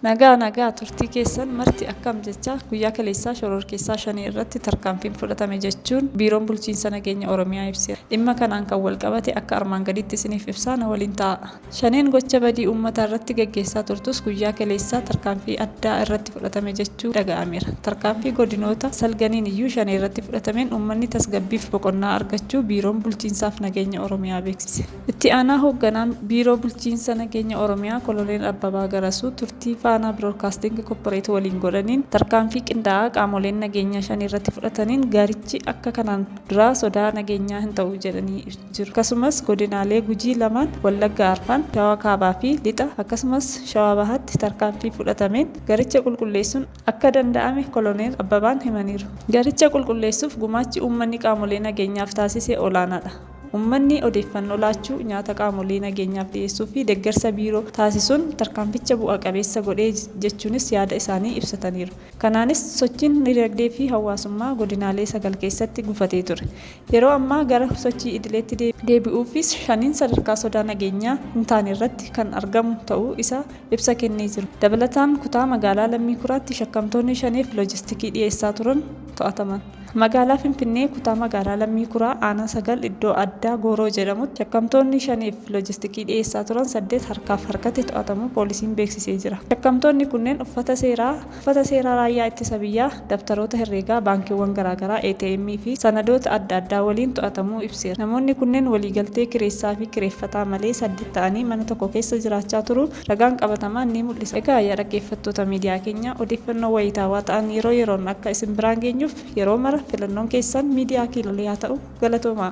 Nagaa nagaa turtii keessan marti akkam jecha guyyaa kaleessaa shororkeessaa shanii irratti tarkaanfiin fudhatame jechuun biiroon bulchiinsa nageenya Oromiyaa ibseera. Dhimma kanaan kan wal qabate akka armaan gadiitti isiniif ibsaa na waliin ta'a. Shaneen gocha badii uummataa irratti gaggeessaa turtus guyyaa kaleessaa tarkaanfii addaa irratti fudhatame jechuu dhaga'ameera. Tarkaanfii godinoota salganiin iyyuu shanee irratti fudhatameen uummanni tasgabbiif boqonnaa argachuu Biiroon Bulchiinsaaf Nageenya Oromiyaa beeksise. Itti aanaa hoogganaan Biiroo Bulchiinsa Nageenya Oromiyaa Koloneel Abbabaa Garasuu turtii Faanaa Biroodkaastiingi Kopporeet waliin godhaniin tarkaanfii qindaa'aa qaamoleen nageenyaa shaneerratti fudhataniin gaarichi akka kanaan duraa sodaa nageenyaa hin ta'u jedhanii jiru. Akkasumas godinaalee Gujii lamaan, Wallagga Arfan, Shawaa Kaabaa fi Lixa akkasumas Shawaa Bahaatti tarkaanfii fudhatameen garicha qulqulleessuun akka danda'ame Koloneel Abbabaan himaniiru. Garicha qulqulleessuuf gumaachi uummanni qaamolee nageenyaaf taasise olaanaadha. Uummanni odeeffannoo laachuu, nyaata qaamolee nageenyaaf dhiyeessuu fi deeggarsa biiroo taasisuun tarkaanficha bu'a qabeessa godhe jechuunis yaada isaanii ibsataniiru. Kanaanis sochiin dinagdee fi hawaasummaa godinaalee sagal keessatti gufatee ture Yeroo ammaa gara sochii idileetti deebi'uufis shaniin sadarkaa sodaa nageenyaa hin taane irratti kan argamu ta'uu isaa ibsa kennee jira. Dabalataan kutaa magaalaa Lammii Kuraatti shakkamtoonni Shaneef loojistikii dhiyeessaa turan to'ataman. Magaalaa Finfinnee kutaa magaalaa Lammii Kuraa aanaa 9 iddoo addaa Gooroo jedhamutti shakkamtoonni Shaneef loojistikii dhiyeessaa turan 8 harkaaf harkatti to'atamuu poolisiin beeksisee jira. Shakkamtoonni kunneen uffata seeraa Uffata seeraa Raayyaa Ittisa Biyyaa, dabtaroota herreegaa baankiiwwan garaagaraa, ATM fi sanadoota adda addaa waliin to'atamuu ibseera. Namoonni kunneen waliigaltee kireessaafi kireeffataa malee saddeet ta'anii mana tokko keessa jiraachaa turuu ragaan qabatamaan ni mul'isa. Egaa yaa dhaggeeffattoota miidiyaa keenyaa, odeeffannoo wayitaawaa ta'an yeroo yeroon akka isin biraan geenyuuf yeroo mara filannoon keessan miidiyaa Kiilolee haa ta'u. Galatoomaa!